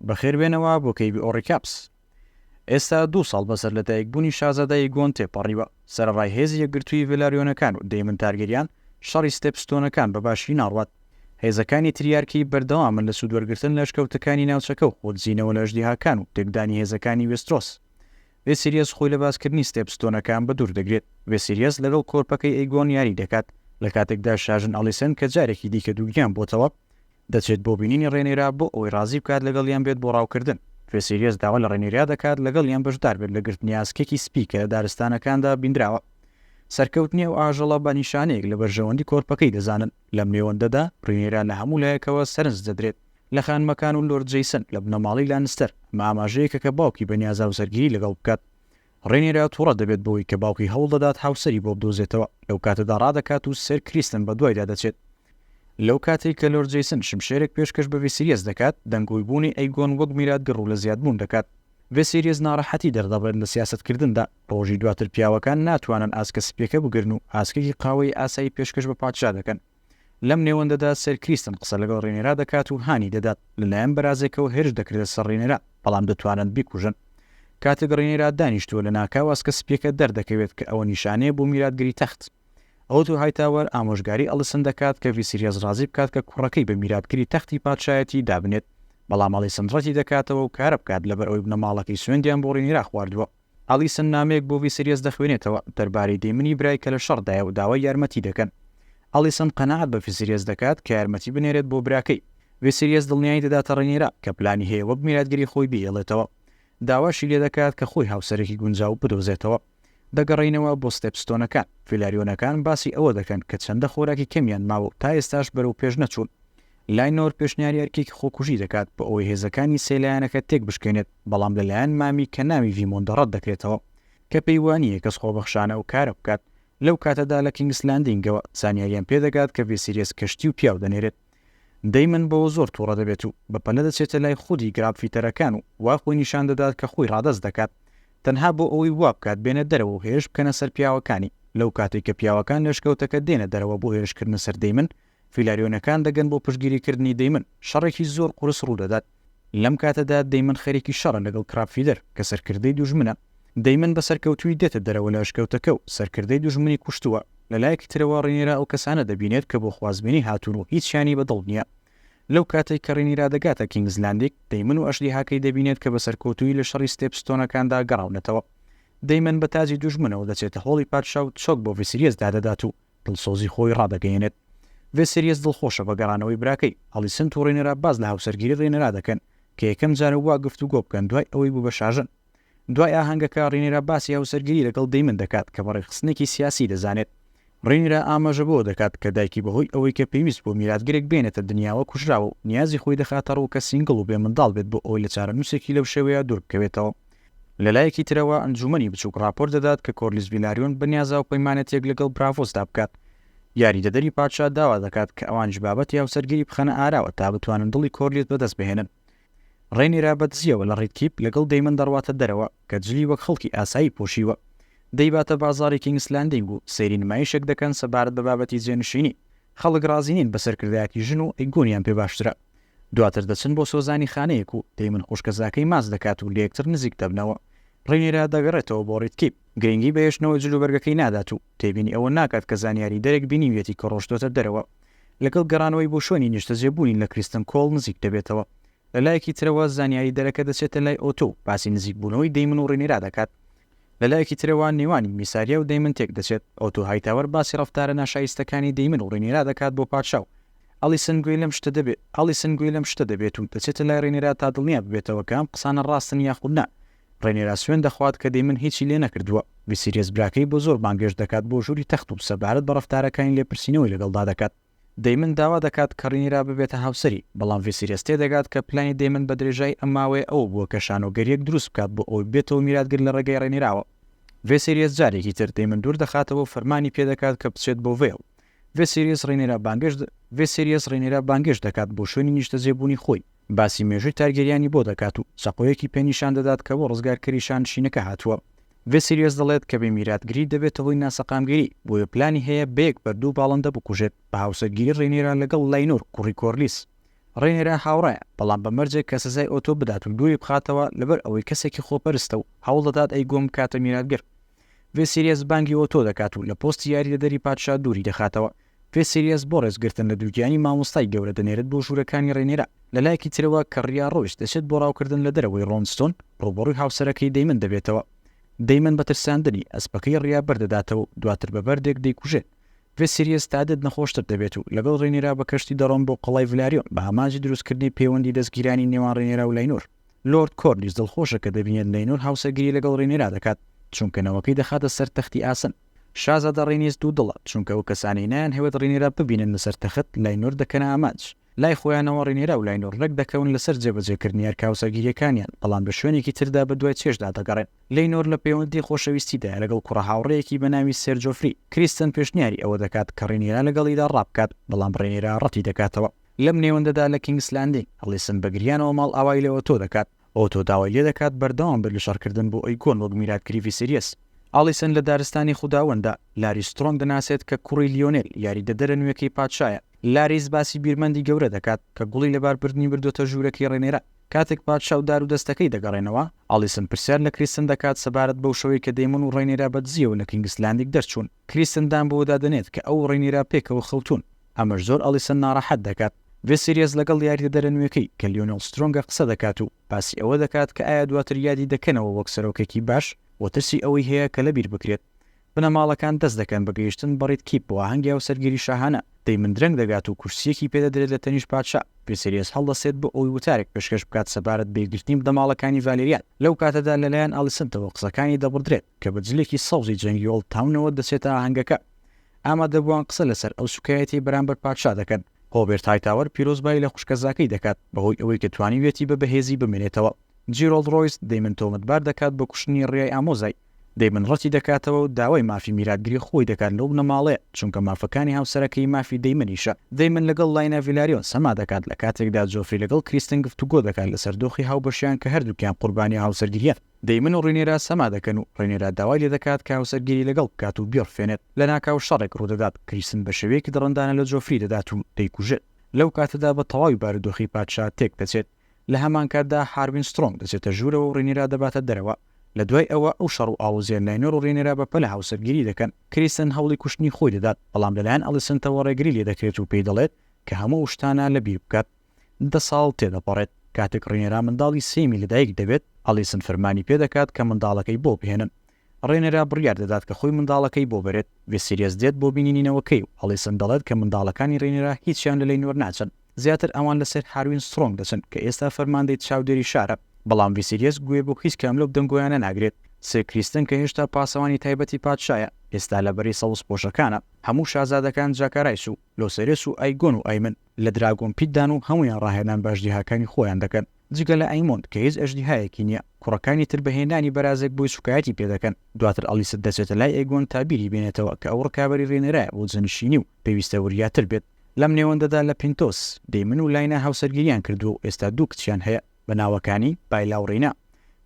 بەخێر بێنەوە بۆ کەیڤی ئۆڕیکاپس. ئێستا دوو ساڵ بەسەر لەدایکبوونی شازادە ئیگۆن تێپەڕیوە، سەرەڕای هێزی یەکگرتووی ڤێلاریۆنەکان و دەیمن تارگێریان، شەڕی ستێپ ستۆنەکان بە باشی ناڕوات. هێزەکانی تریارکی بەردەوامن لە سوودوەرگرتن لە ئەشکەوتەکانی ناوچەکە و خۆدزینەوە لە ئەژدیهاکان و تێکدانی هێزەکانی وێسترۆس. ڤێسیریەس خۆی لە باسکردنی ستێپ ستۆنەکان بەدوور دەگرێت. ڤێسیریەس لەگەڵ کۆرپەکەی ئەیگۆن یاری دەکات، لەکاتێکدا شاژن ئەڵیسێن کە جارێکی دیکە دووگیان بۆتەوە، دەچێت بۆ بینینی ڕێنێرا بۆ ئەوەی ڕازی بکات لەگەڵیان بێت بۆ ڕاوکردن، ڤێسێلیەس داوا لە ڕێنێرا دەکات لەگەڵیان بەشدار بێت لە گرتنی ئاسکێکی سپی کە لە دارستانەکاندا بینراوە. سەرکەوتنی ئەو ئاژەڵە بە نیشانەیەک لە بەرژەوەندی کۆرپەکەی دەزانن. لەم نێوەندەدا، ڕینێرا لە هەموو لایەکەوە سەرنج دەدرێت، لە خانمەکان و لۆرد جەیسن لە بنەماڵەی لانستەر، ئەمە ئاماژەیەکە کە باوکی بەنیازە هاوسەرگیری لەگەڵ بکات. ڕێنیرا توڕە دەبێت بەوەی کە باوکی هەوڵ دەدات هاوسەری بۆ بدۆزێتەوە، لەو کاتەدا ڕادەکات و سێر کریستن بەدوایدا دەچێت. لەو کاتەی کە لۆرد جەیسن شمشێرێک پێشکەش بە ڤیسیریەس دەکات، دەنگۆی بوونی ئەیگۆن وەک میراتگر ڕوو لە زیادبوون دەکات. ڤیسیریەس ناڕەحەتی دەردەبڕێت لە سیاسەتکردندا. ڕۆژی دواتر پیاوەکان ناتوانن ئاسکە سپییەکە بگرن و ئاسکێکی قاوەیی ئاسایی پێشکەش بە پادشا دەکەن. لەم نێوەندەدا سێر کریستن قسە لەگەڵ ڕینێرا دەکات و هانی دەدات لەلایەن بەرازێکەوە هێرش دەکرێتە سەر ڕینێرا بەڵام دەتوانن بیکوژن کاتێک ڕینێرا دانیشتووە لە ناکاو ئاسکە سپیەکە دەردەکەوێت کە ئەوە نیشانەیە بۆ میراتگری تەخت ئەوتۆ هایتاوەر ئامۆژگاری ئەڵسن دەکات کە ڤیسیریەس ڕازی بکات کە کوڕەکەی بە میراتگری تەختی پادشایەتی دابنێت بەڵام ئەڵیسن ڕەتی دەکاتەوە و کارە بکات لەبەر ئەوەی بنەماڵەکەی سوێندیان بۆ ڕینێرا خواردووە ئەلیسن نامەیەک بۆ ڤیسریەس دەخوێنێتەوە دەربارەی دەیمنی برای کە لە شەڕدایە و داوای یارمەتی دەکەن. ئەلیسن قەناعەت بە ڤیسریەس دەکات کە یارمەتی بنێرێت بۆ براکەی. ڤیسریەس دڵنیایی دەداتە ڕینیرا کە پلانی هەیە وەک میراتگری خۆی بهێڵێتەوە. داواشی لێدەکات کە خۆی هاوسەرێکی گونجاو بدۆزێتەوە. دەگەڕێینەوە بۆ ستێپستۆنەکان. فیلاریۆنەکان باسی ئەوە دەکەن کە چەندە خۆراکی کەمیان ماوە و تا ئێستاش بەرەو پێش نەچوون. لاینۆر پێشنیاری ئەرکێکی خۆکوژی دەکات بۆ ئەوەی هێزەکانی سێ لایەنەکە تێکبشکێنێت. بەڵام لەلایەن مامی کە ناوی ڤیمۆندە ڕەت دەکرێتەوە، کە پێی وانییە کەس خۆبەخشانە ئەو کارە بکات، لەو کاتەدا لە کینگس لاندینگەوە زانیاریان پێ دەگات کە ڤێسیریەس کەشتی و پیاو دەنێرێت. دەیمن بەوە زۆر توڕە دەبێت و بە پەلە دەچێتە لای خودی گرابفیتەرەکان و وا خۆی نیشان دەدات کە خۆی ڕادەست دەکات تەنها بۆ ئەوەی وا بکات بێنە دەرەوە و هێرش بکەنە سەر پیاوەکانی، لەو کاتەی کە پیاوەکان لە شکەوتەکە دێنە دەرەوە بۆ هێرشکردنە سەر دەیمن، فیلاریۆنەکان دەگەن بۆ پشتگیریکردنی دەیمن، شەڕێکی زۆر قورس ڕوودەدات، لەم کاتەدا دەیمن خەریکی شەڕە لەگەڵ کراپفیدەر کە سەرکردەی دوژمنە، دەیمن بە سەرکەوتوویی دێتە دەرەوە لە ئەشکەوتەکە و سەرکردەی دوژمنی کوشتووە، لە لایەکی ترەوە ڕینیرا ئەو کەسانە دەبینێت کە بۆ خوازبێنی هاتوون و هیچیانی بە دڵ نییە. لەو کاتەی کە ڕینیرا دەگاتە کینگز لاندیگ، دەیمن و ئەژدیهاکەی دەبینێت کە بە سەرکەوتوویی لە شەڕی ستێپ ستۆنەکاندا گەڕاونەتەوە. دەیمن بە تاجی دوژمنەوە دەچێتە هۆڵی پادشا و چۆک بۆ ڤیسیریەس دادەدات و دڵسۆزی خۆی ڕادەگەیەنێت. ڤێسێریەس دڵخۆشە بە گەڕانەوەی براکەی. ئەڵیسنت و ڕینێرا باس لە هاوسەرگیری ڕینێرا دەکەن کە یەکەم جارە وا گفتوگۆ بکەن دوای ئەوەی بوو بە شاژن. دوای ئاهەنگەکە، ڕینێرا باسی هاوسەرگیری لەگەڵ دەیمن دەکات کە بە ڕێکخستنێکی سیاسی دەزانێت. ڕینێرا ئاماژە بەوە دەکات کە دایکی بەهۆی ئەوەی کە پێویست بوو میراتگرێک بێنێتە دنیاوە کوژراوە و نیازی خۆی دەخاتە ڕوو کە سینگڵ و بێ منداڵ بێت بۆ ئەوەی لە چارەنووسێکی لەو شێوەیە دوور بکەوێتەوە. لەلایەکی ترەوە ئەنجوومەنی بچووک ڕاپۆرت دەدات کە کۆرلیس ڤیلاریۆن بەنیازە هاوپەیمانەتییەک لەگەڵ براڤۆسدا بکات. یاریدەدەری پادشا داوا دەکات کە ئەوانیش بابەتی هاوسەرگیری بخەنە ئاراوە تا بتوانن دڵی کۆرلیس بەدەستبهێنن. ڕێنیرا بە دزییەوە لە ڕیدکیپ لەگەڵ دەیمن دەڕواتە دەرەوە کە جلی وەک خەڵکی ئاسایی پۆشیوە. دەیباتە بازاڕی کینگس لاندینگ و سەیری نمایشێک دەکەن سەبارەت بە بابەتی جێنشینی. خەڵک ڕازی نین بە سەرکردایەتی ژن و ئەیگۆنیان پێ باشترە. دواتر دەچن بۆ سۆزانی خانەیەک و پەیمن خوشکەزاکەی ماچ دەکات و لەیەکتر نزیک دەبنەوە. ڕینیرا دەگەڕێتەوە بۆ ڕیدکیپ، گرنگی بە هێشتنەوەی جلوبەرگەکەی نادات و تێبینی ئەوە ناکات کە زانیاریدەرێک بینیویەتی کە ڕۆشتووەتە دەرەوە. لەگەڵ گەڕانەوەی بۆ شوێنی نیشتەجێبوونی لە کریستن کۆڵ نزیک دەبێتەوە. لەلایەکی ترەوە زانیاریدەرەکە دەچێتە لای ئۆتۆ و باسی نزیکبوونەوەی دەیمن و ڕینیرا دەکات. لە لایەکی ترەوە نێوانی میساریا و دەیمن تێکدەچێت، ئۆتۆ هایتاوەر باسی ڕەفتارە ناشایستەکانی دەیمن و ڕینیرا دەکات بۆ پادشا و ئەلیسن گوێی لەم شتە دەبێت ئەلیسن گوێی لەم شتە دەبێت و دەچێتە لای ڕینیرا تا دڵنیا ببێتەوە کە ئەم قسانە ڕاستن یاخود نا ڕینیرا سوێند دەخوات کە دەیمن هیچی لێ نەکردووە ڤیسیریەس براکەی بۆ زۆر بانگێشت دەکات بۆ ژووری تەخت و سەبارەت بە ڕەفتارەکانی لێپرسینەوەی لەگەڵدا دەکات. دەیمن داوا دەکات کە ڕینیرا ببێتە هاوسەری، بەڵام ڤیسیریەس تێدەگات کە پلانی دەیمن بە درێژایی ئەم ماوەیە ئەوە بووە کە شانۆگەرییەک دروست بکات بۆ ئەوەی ببێتەوە میراتگر لە ڕێگەی ڕێنیراوە. ڤێسیریەس جارێکی تر دەیمن دوور دەخاتەوە و فەرمانی پێ دەکات کە بچێت بۆ ڤێڵ. ڤێسیریەس ڕینیرا بانگێشت ڤێسیریەس ڕینیرا بانگێشت دەکات بۆ شوێنی نیشتەجێبوونی خۆی، باسی مێژووی تارگێریانی بۆ دەکات و چەقۆیەکی پێ نیشان دەدات کە بۆ ڕزگارکەری شانشینەکە هاتووە. ڤێسیلیۆس دەڵێت کە بێ میراتگری دەبێتە هۆی ناسەقامگیری، بۆیە پلانی هەیە بەیەک بەردوو باڵندە بکوژێت، بە هاوسەرگیری ڕێنێرا لەگەڵ لاینۆر کوڕی کۆرلیس. ڕێنێرا هاوڕایە، بەڵام بە مەرجێک کە سزای ئۆتۆ بدات و دووری بخاتەوە، لەبەر ئەوەی کەسێکی خۆپەرستە و هەوڵ دەدات ئەیگۆن بکاتە میراتگر. ڤێسیلیەس بانگی ئۆتۆ دەکات و لە پۆستی یاریدەدەری پادشا دووری دەخاتەوە، پێ سیریەس بۆ ڕێزگرتن لە دووگیانی مامۆستای گەورە دەنێرێت بۆ ژوورەکانی ڕێنێران، لە لایەکی ترەوە کە ڕیا ڕۆیس دەچێت بۆ ڕاوکردن لە دەرەوەی ڕۆنستۆن، ڕووبەڕووی هاوسەرەکەی دەیمن دەبێتەوە. دەیمن بە ترساندنی، ئەسپەکەی ڕیا بەر دەداتەوە و دواتر بە بەردێک دەیکوژێت. ڤێ سیریەس تا دێت نەخۆشتر دەبێت و لەگەڵ ڕێنێرا بە کەشتی دەڕۆن بۆ قەڵای ڤلاریۆن بە ئامانجی دروستکردنی پێوەندی دەستگیرانی نێوان ڕێنێرا و لاینۆر. لۆرد کۆرلیس دڵخۆشە کە دەبینێت لاینۆر هاوسەرگیری لەگەڵ ڕێنێرا دەکات، چونکە نەوەکەی دەخاتە سەر تەختی ئاسن. شازادە ڕینیس دوو دڵە چونکە ئەو کەسانەی نایانهەوێت ڕینیرا ببینن لەسەر تەخت لاینۆر دەکەنە ئامانج لای خۆیانەوە ڕینیرا و لاینۆر ڕێک دەکەون لەسەر جێبەجێکردنی ئەرکە هاوسەرگیریەکانیان بەڵام لە شوێنێکی تردا بە دوای چێژدا دەگەڕێن لینۆر لە پەیوەندی خۆشەویستیدایە لەگەڵ کوڕە هاوڕێیەکی بە ناوی سێر جۆفری کریستن پێشنیاری ئەوە دەکات کە ڕینیرا لەگەڵیدا ڕابکات بەڵام ڕێنیرا ڕەتی دەکاتەوە لەم نێوەندەدا لە کینگس لاندین ئەڵیسن بە گریانەوە ماڵئاوای لە ئۆتۆ دەکات. ئۆتۆ داوای لێ دەکات بەردەوام بێت لە شەڕکردن بۆ ئەیکۆن وەک میرات کریڤیسریەس. ئاڵیسن لە دارستانی خوداوەنددا لاری سترۆم دەناسێت کە کوڕی لیۆنێل، یاریدەدەرە نوێکەی پادشایە. لاریس باسی بیرمەندی گەورە دەکات کە گوڵی لەباربردنی بردۆتە ژوورەکەی ڕێنێرا. کاتێک پادشا و دارودەستەکەی دەگەڕێنەوە، ئاڵیسن پرسیار لە کریستن دەکات سەبارەت بەو شەوەی کە دەیمۆن و ڕێنێرا بە دزییەوە لە کینگس لاندیگ دەرچوون. کریستن دان بەوە دادەنێت کە ئەو و ڕینیرا پێکەوە خەوتوون، ئەمەش زۆر ئەڵیسن ناڕەحەت دەکات. ڤێسیریەس لەگەڵ یاریدەدەرە نوێکەی کە لیۆنێل سترۆنگە قسە دەکات و باسی ئەوە دەکات کە ئایا دواتر یادی دەکەنەوە وەک سەرۆکێکی باش و ترسی ئەوەی هەیە کە لەبیر بکرێت. بنەماڵەکان دەست دەکەن بە گەیشتن بە ڕید کیپ بۆ ئاهەنگی هاوسەرگیری شاهانە، دەیمن درەنگ دەگات و کورسییەکی پێ دەدرێت لە تەنیشت پادشا، ڤێسیریەس هەڵدەستێت بۆ ئەوەی وتارێک پێشکەش بکات سەبارەت بە یەکگرتنی بنەماڵەکانی ڤالێریان، لەو کاتەدا لەلایەن ئەڵیسنتەوە قسەکانی دەبڕدرێت. کە بە جلێکی سەوزی جەنگی ئۆڵد تاونەوە دەچێتە ئاهەنگەکە، ئامادەبووان قسە لەسەر ئەو سووکایەتیی بەرامبەر پادشا دەکەن. هۆبێرت هایتاوەر پیرۆزبایی لە خوشکەزاکەی دەکات بەهۆی ئەوەی کە توانیویەتی بە بەهێزی بمێنێتەوە. جیرۆڵد ڕۆیس دەیمن تۆمەتبار دەکات بە کوشتنی ڕیای ئامۆزای. دەیمن ڕەتی دەکاتەوە و داوای مافی میراتگری خۆی دەکات لەو بنەماڵەیە، چونکە مافەکانی هاوسەرەکەی مافی دەیمنیشە. دەیمن لەگەڵ لاینا ڤیلاریۆن سەما دەکات، لە کاتێکدا جۆفری لەگەڵ کریستن گفتوگۆ دەکات لەسەر دۆخی هاوبەشیان کە هەردووکیان قوربانیی هاوسەرگیرییان. دەیمن و ڕینێرا سەما دەکەن و ڕینێرا داوای لێ دەکات کە هاوسەرگیری لەگەڵ بکات و بیڕفێنێت، لەناکاو شەڕێک ڕوودەدات، کریستن بە شێوەیەکی دڕندانە لە جۆفری دەدات و دەیکوژێت، لەو کاتەدا بە تەواوی بارودۆخی پادشا تێکدەچێت، لە هەمانکاتدا هاروین سترۆنگ دەچێتە ژوورەوە و ڕینێرا دەباتە دەرەوە، لە دوای ئەوە ئەو شەڕ و ئاڵۆزییە لاینۆر و ڕینێرا بە پەلە هاوسەرگیری دەکەن، کریستن هەوڵی کوشتنی خۆی دەدات، بەڵام لەلایەن ئەڵیسنتەوە ڕێگری لێ دەکرێت و پێی دەڵێت کە هەموو ئەو شتانە لەبیر بکات. دە ساڵ تێدەپەڕێت، کاتێک ڕێنێرا منداڵی سێیەمی لەدایک دەبێت، ئەڵیسن فەرمانی پێدەکات کە منداڵەکەی بۆ بهێنن. ڕێنێرا بڕیار دەدات کە خۆی منداڵەکەی بۆ بەرێت. ڤیسیریەس دێت بۆ بینینی نەوەکەی و ئەڵیسن دەڵێت کە منداڵەکانی ڕێنێرا هیچیان لە لەینۆر ناچن، زیاتر ئەوان لەسەر هاروین سترۆنگ دەچن کە ئێستا فەرماندەی چاودێری شارە. بەڵام ڤیسیریەس گوێ بۆ هیچ کام لەو دەنگۆیانە ناگرێت. سێر کریستن کە هێشتا پاسەوانی تایبەتی پادشایە، ئێستا لە بەرەی سەوزپۆشەکانە. هەموو شازادەکان جاکارایس و لۆسێرێس و ئایگۆن و ئایمن لە دراگۆن پیت دان و هەموویان ڕاهێنان بە ئەژدیهاکانی خۆیان دەکەن جگە لە ئەیمۆند کە هیچ ئەژدیهایەکی نیە، کوڕەکانی تر بە هێنانی بەرازێک بۆی سوکایەتی پێ دەکەن، دواتر ئەڵیست دەچێتە لای ئەیگۆن تا بیری بێنێتەوە کە ئەو ڕکابەری ڕێنێرایە بۆ جەنشینی و پێویستە وریاتر بێت لەم نێوەندەدا لە پینتۆس، دەیمن و لاینا هاوسەرگیریان کردووە و ئێستا دوو کچیان هەیە. بە ناوەکانی، بایلا و ڕینا،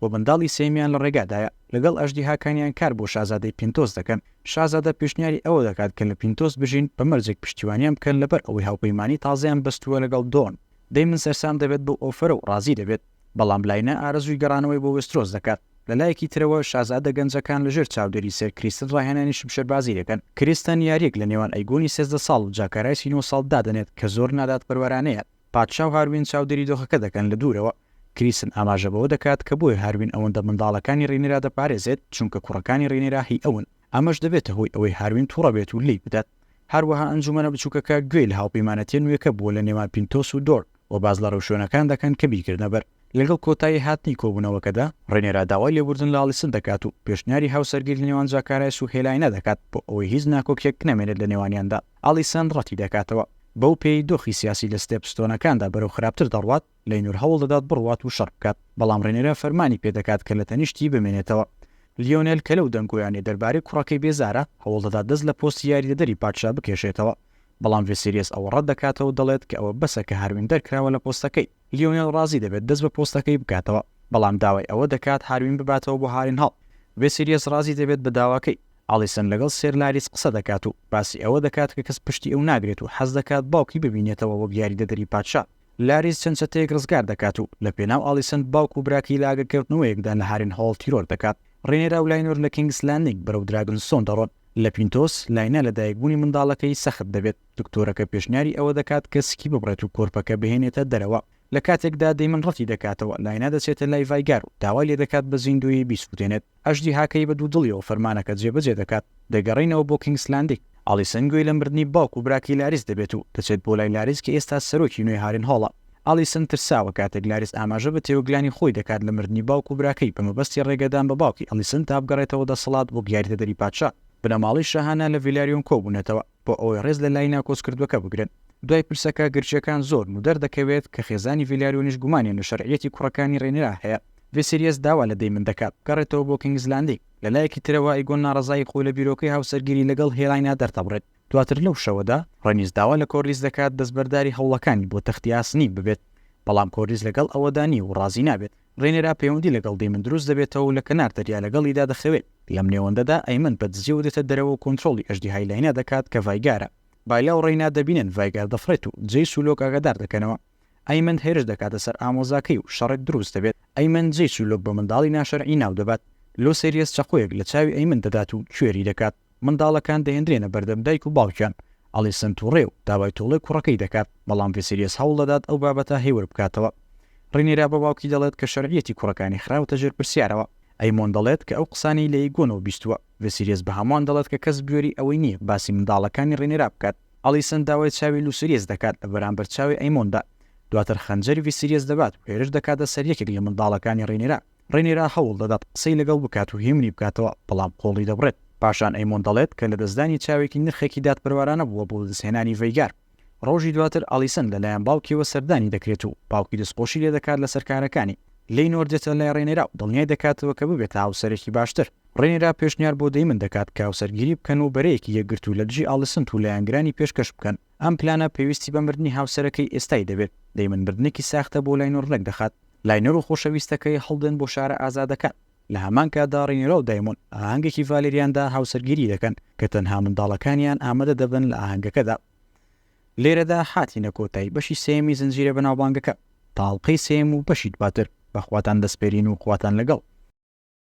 و منداڵی سێیەمیان لە ڕێگادایە، لەگەڵ ئەژدیهاکانیان کار بۆ شازادەی پینتۆس دەکەن، شازادە پێشنیاری ئەوە دەکات کە لە پینتۆس بژین، بە مەرجێک پشتیوانیان بکەن لەبەر ئەوەی هاوپەیمانی تازەیان بەستووە لەگەڵ دۆن، دەیمن سەرسام دەبێت بەو ئۆفەرە و ڕازی دەبێت، بەڵام لاینا ئارەزووی گەڕانەوەی بۆ وێسترۆس دەکات، لە لایەکی ترەوە شازادە گەنجەکان لە ژێر چاودێری سێر کریستن ڕاهێنانی شمشێربازی دەکەن، کریستن یارییەک لە نێوان ئەیگۆنی سێزدە ساڵ و جاکارایسی نۆ ساڵ دادەنێت کە زۆر نادادپەروەرانەیە، پادشا و هاروین چاودێری دۆخەکە دەکەن لە دوورەوە. کریسن ئاماژە بەوە دەکات کە بۆیە هاروین ئەوەندە منداڵەکانی ڕینێرا دەپارێزێت، چونکە کوڕەکانی ڕینێرا هی ئەون. ئەمەش دەبێتە هۆی ئەوەی هاروین توڕە بێت و لێی بدات. هەروەها ئەنجومەنە بچووکەکە گوێی لە هاوپەیمانەتییە نوێکە بووە لە نێوان پینتۆس و دۆرن و باس لە ڕێوشوێنەکان دەکەن کە بیرکردنە بەر. لەگەڵ کۆتایی هاتنی کۆبوونەوەکەدا، ڕینێرا داوای لێبوردن لە ئاڵیسن دەکات و پێشنیاری هاوسەرگیری لە نێوان زاکارایس و هێلاینا دەکات بۆ ئەوەی هیچ ناکۆکییەک نەمێنێت لە نێوانیاندا. ئاڵیسن ڕەتی دەکاتەوە. بەو پێیەی دۆخی سیاسی لە ستێپستۆنەکاندا بەرەو خراپتر دەڕوات، لەینۆر هەوڵ دەدات بڕوات و شەڕ بکات، بەڵام ڕینێرا فەرمانی پێ دەکات کە لە تەنیشتی بمێنێتەوە. لیۆنێل کە لەو دەنگۆیانەی دەربارەی کوڕەکەی بێزارە، هەوڵ دەدات دەست لە پۆستی یاریدەدەری پادشا بکێشێتەوە، بەڵام ڤێسیریەس ئەوە ڕەت دەکاتەوە و دەڵێت کە ئەوە بەسە کە هاروین دەرکراوە لە پۆستەکەی. لیۆنێل ڕازی دەبێت دەست بە پۆستەکەی بکاتەوە، بەڵام داوای ئەوە دەکات هاروین بباتەوە بۆ هارینهاڵ. ڤێسیلیەس ڕازی دەبێت بە داواکەی، ئاڵیسن لەگەڵ سێر لاریس قسە دەکات و باسی ئەوە دەکات کە کەس پشتی ئەو ناگرێت و حەز دەکات باوکی ببینێتەوە وەک یاریدەدەری پادشا. لاریس چەند چەتەیەک ڕزگار دەکات و لە پێناو ئاڵیسن باوک و براکەی لە ئاگرکەوتنەوەیەکدا لە هارینهۆڵ تیرۆر دەکات. ڕینێرا و لاینۆر لە کینگس لاندینگ بەرەو دراگنستۆن دەڕۆن. لە پینتۆس، لاینا لە دایکبوونی منداڵەکەی سەخت دەبێت. دکتۆرەکە پێشنیاری ئەوە دەکات کە سکی ببڕێت و کۆرپەکە بهێنێتە دەرەوە، لە کاتێکدا دەیمن ڕەتی دەکاتەوە، لاینا دەچێتە لای ڤایگار و داوای لێدەکات بە زیندوویی بیسووتێنێت، ئەژدیهاکەی بە دوودڵیەوە فەرمانەکە جێبەجێ دەکات، دەگەڕێینەوە بۆ کینگس لاندینگ، ئالیسن گوێی لە مردنی باوک و براکەی لاریس دەبێت و دەچێت بۆ لای لاریس کە ئێستا سەرۆکی نوێی هارینهۆڵە، ئالیسن ترساوە کاتێک لاریس ئاماژە بە تێوەگلانی خۆی دەکات لە مردنی باوک و براکەی بە مەبەستی ڕێگەدان بە باوکی ئالیسن تا بگەڕێتەوە دەسەڵات بۆ گیاریدەدەری پادشا، بنەماڵەی شاهانە لە ڤیلاریۆن کۆبوونەتەوە. بۆ ئەوەی ڕێز لە لایینا کۆچکردووەکە بگرن دوای پرسەکە گرژییەکان زۆرن و دەردەکەوێت کە خێزانی ڤیلاریۆنیش گومانیان لە شەرعییەتی کوڕەکانی ڕێنیرا هەیە، ڤیسیریەس داوا لە دەیمن دەکات بگەڕێتەوە بۆ کینگز لاندینگ، لە لایەکی ترەوە ئەیگۆن ناڕەزایی خۆی لە بیرۆکەی هاوسەرگیری لەگەڵ هێلاینا دەردەبڕێت، دواتر لەو شەوەدا ڕێنیس داوا لە کۆرلیس دەکات دەستبەرداری هەوڵەکانی بۆ تەختی ئاسنین ببێت، بەڵام کۆرلیس لەگەڵ ئەوەدا نییە و ڕازی نابێت، ڕێنێرا پەیوەندی لەگەڵ دەیمن دروست دەبێتەوە و لە کەنار دەریا لەگەڵیدا دەخەوێت. لەم نێوەندەدا ئەیمن بە دزیەوە دێتە دەرەوە و کۆنترۆڵی ئەژدیهای لاینا دەکات کە ڤایگارە. بایلا و ڕێینا دەبینن ڤایگار دەفڕێت و جەیس و لۆک ئاگادار دەکەنەوە. ئەیمن هێرش دەکاتە سەر ئامۆزاکەی و شەڕێک دروست دەبێت. ئەیمن جەیس و لۆک بە منداڵی ناشەرعی ناو دەبات. لۆسێریەس چەقۆیەک لە چاوی ئەیمن دەدات و کوێری دەکات. منداڵەکان دەهێندرێنە بەردەم دایک و باوکیان، ئەڵیسن تووڕەیە و داوای تۆڵەی کوڕەکەی دەکات، بەڵام ڤیسیلیەس هەوڵ دەدات ئەو بابەتە هێور بکاتەوە. ڕینێرا بە باوکی دەڵێت کە شەرعیەتی کوڕەکانی خراوەتە ژێر پرسیارەوە. ئەیمۆن دەڵێت کە ئەو قسانەی لە ئیگۆنەوە بیستووە. ڤیسیلیەس بە هەمووان دەڵێت کە کەس بوێری ئەوەی نییە باسی منداڵەکانی ڕینێرا بکات. ئەڵیسن داوای چاوی لوسیریەس دەکات لە بەرامبەر چاوی ئەیمۆندا. دواتر خەنجەری ڤیسیلیەس دەبات و هێرش دەکاتە سەر یەکێک لە منداڵەکانی ڕینێرا. ڕینیرا هەوڵ دەدات قسەی لەگەڵ بکات و هێمنی بکاتەوە، بەڵام قۆڵی دەبڕێت. پاشان ئەیمۆن دەڵێت کە لەدەستدانی چاوێکی نرخێکی دادپەروارانە بووە بۆ بەدەستهێنانی ڤەیگار. ڕۆژی دواتر ئالیسن لەلایەن باوکیەوە سەردانی دەکرێت و باوکی دەستخۆشی لێدەکات لەسەر کارەکانی. لینۆر دێتە لای ڕینیرا و دڵنیای دەکاتەوە کە ببێتە هاوسەرێکی باشتر. ڕینیرا پێشنیار بۆ دەیمن دەکات کە هاوسەرگیری بکەن و بەرەیەکی یەکگرتوو لە دژی ئالیسنت و لایەنگرانی پێشکەش بکەن. ئەم پلانە پێویستی بە مردنی هاوسەرەکەی ئێستای دەبێت، دەی من مردنێکی ساختە بۆ لاینۆر ڕێکدەخات، لاینۆر و خۆشەویستەکەی هەڵدێن بۆ شارە ئازادەکان، لە هەمان کاتدا ڕینێرا و دایمۆن لە ئاهەنگێکی ڤالێریاندا هاوسەرگیری دەکەن کە تەنها منداڵەکانیان ئامادە دەبن لە ئاهەنگەکەدا. لێرەدا هاتینە کۆتایی بەشی سێیەمی زنجیرە بەناوبانگەکە، تا ئەڵقەی سێیەم و بەشی دواتر، بەخواتان دەسپێرین و خواتان لەگەڵ.